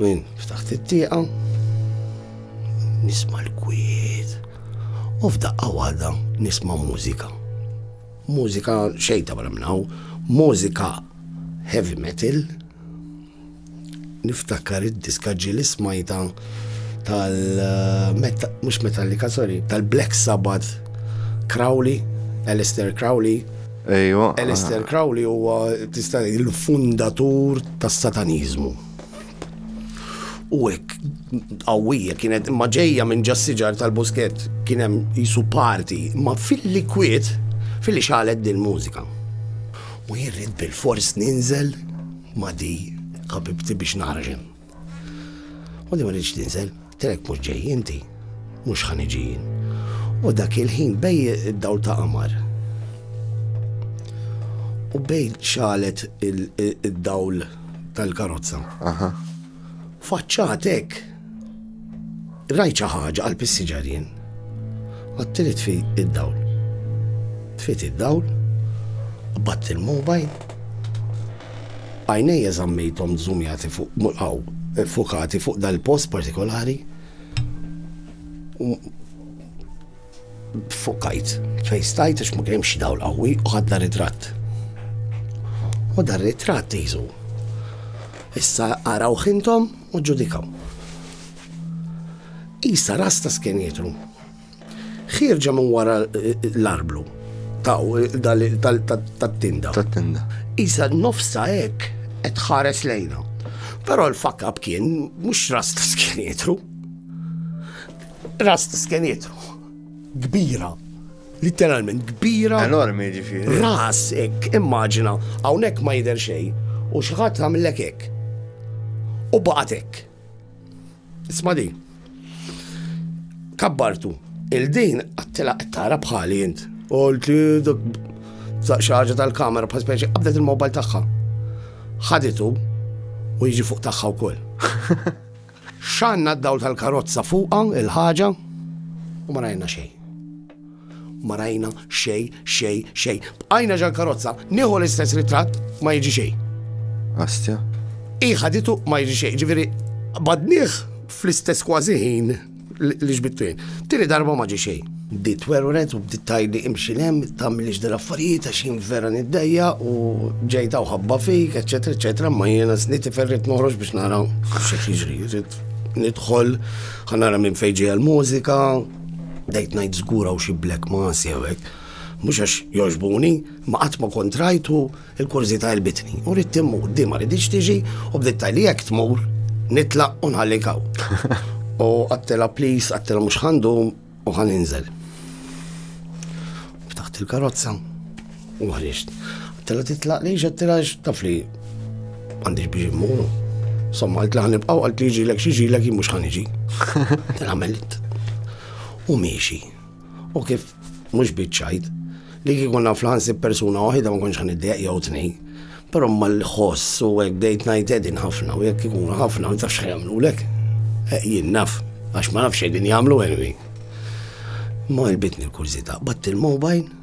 Min ftaħt it-tieqa, nisma l-kwiet, u f'daqqa waħda nisma mużika. Mużika xejta barra minnaw, mużika heavy metal, niftakar id-diska ġili smajta tal eh, mux Metallica, sorry, tal-Black Sabbath Crowley, Alistair Crowley, Ejwa. Aleister Crowley huwa tista' ngħid il-fundatur tas-Sataniżmu. U hekk qawwija kienet imma ġejja minn ġas-siġar tal-buskett kien hemm jisu parti, ma filli kwiet filli xalet din mużika. U jirrid bil-fors ninżel ma di ħabibti biex naħraġ hemm. U li ma rridx tinżel, telek mhux ġej inti, mhux ħa niġi jien. U dak il-ħin bej id-dawl ta' qamar. U bej xalet id-dawl tal-karozza. Faċċatek Rajt xi ħaġa, qalb is-siġarien. Għadtli tfi id-dawl. Tfiet id-dawl, qbadt il-mobile, għajnejja żammejthom żumjati fuq mulqaw, fukati fuq dal-post partikolari u fukkajt, fejn stajt għax ma kien hemm xi dawl qawwi u ħadna ritratt. U dar ritratt isu. Issa araw ħintom U ġġudikaw. Isa ras ta' skenjitru. Ħirġa minn wara l-arblu taw tat-tinda. Tat-tinda. Isa nofsa hekk qed ħares lejna. Però l-fakab kien mhux ras ta' skenjitru. Ras ta' skenjitru. Kbira. Litteralment kbira. Enormi ġifieri. Ras hekk, immaġina, hawnhekk ma jidher xejn u xi ħadd għamillek hekk. U baqgħet hekk. Isma' di. Kabbartu. Il-din għattila qed tara bħali int. Qult li dak xi ħaġa tal-kamera bħal speċi qabdet il-mobile tagħha. Ħaditu u jiġi fuq tagħha wkoll. X'għandna d-dawl tal-karozza fuqha l-ħaġa u ma rajna xejn. Ma rajna xejn, xejn, xejn. Bqajna ġal-karozza, nieħu l-istess ritratt ma jiġi xejn. Astja. Iħaditu ma jiġi xejn, ġifieri badnieh fl-istess kważi ħin L-ixbittej. Tieni darba ma ġie xejn. Bdiet twerwret u bdiet tgħidli imxi 'l hemm, tagħmilix dil affarijiet għax jien vera niddejjaq u ġejt hawn ħabba fik, eċċetera, eċċetera, imma jiena sniet tifel rrid noħroġ biex nara x'qed jiġri, rrid nidħol, ħa nara minn fejn ġejja l-mużika, bdejt ngħid żgur hawn xi black mass jew hekk. Mhux għax jogħġbuni, ma qatt ma kont rajtu, Il-kurżità għelbitni u ridt immur, di ma riditx tiġi u bdiet tajli jekk tmur nitlaq u nħallik hawn. U għattela please, għattela mhux ħandum u ħan inżel. Ftaħt il-karozza u ħriġt. Għattela titlaq li ġattela taf li għandix biex immur. Somma għalt li ħanibqaw għalt li ġilek xi ġilek mhux ħaniġi. Għamilt. U miexi. U kif mhux biċ-ċajt, li kieku konna fl ħansib persuna waħida ma konx ħaniddeq jew tnejn. Però ma l-ħoss u hekk bdejt ngħid edin ħafna u jekk ikunu ħafna ma tafx ħajamlulek. Eh, jien naf, għax ma nafx qegħdin jagħmlu anyway. Ma ilbitni l-kurżità, batt il-mobile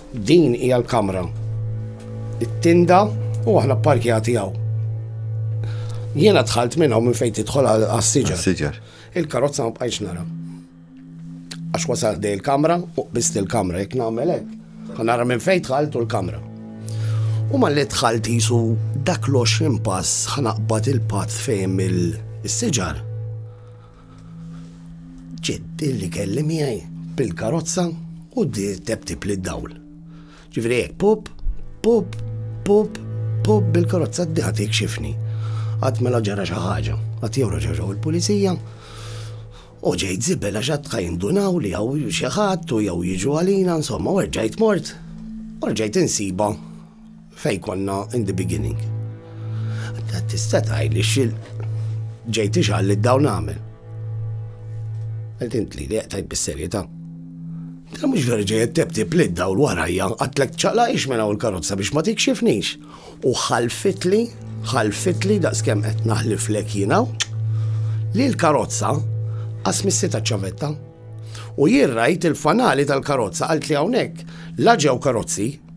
Din hija l-kamra. It-tinda u aħna pparkjati hawn. Jiena dħalt minn hawn minn fejn tidħol għas-siġar. Il-karozza ma bqajx nara. Għax wasal dej il-kamra u qbist il-kamra jekk nagħmel hekk. Nara minn fejn dħalt u l-kamra. U ma li dħalt jisu dak l-20 pass ħanaqbad il-patt fejn il-siġar. Ġiet illi kelli miegħi bil-karozza u bdiet teptib li dawl. Ġifieri hekk pop, pop, pop, pop bil-karozza d diħat ikxifni. Għad mela ġara xi ħaġa, għad jew raġaġaw il-pulizija, u ġejt zibel għax għad jindunaw li għaw xi ħadd u jew jiġu għalina, insomma, u rġajt mort, u rġajt insiba Fejn konna in the beginning. Ta' tista' tgħidli xil ġejt ixgħal li dawn għamel. Qed intli li qed tgħid bis-serjetà. Ta' mhux vera ġejt tebti plid daw l-warajja għatlek ċaqla ix minn hawn karozza biex ma tikxifnix. U ħalfitli, ħalfitli daqskemm qed naħliflek jiena li l-karozza għasmissi ta' ċavetta. U jirrajt il-fanali tal-karozza għalt li hawnhekk la ġew karozzi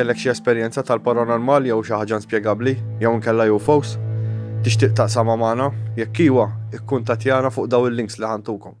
Kellek xi esperjenza tal-paranormal jew xi ħaġa inspjegabbli jew inkella UFOs? Tixtieq taqsama magħna? Jekk iwa, ikkuntattjana fuq daw il-links li ħantukom.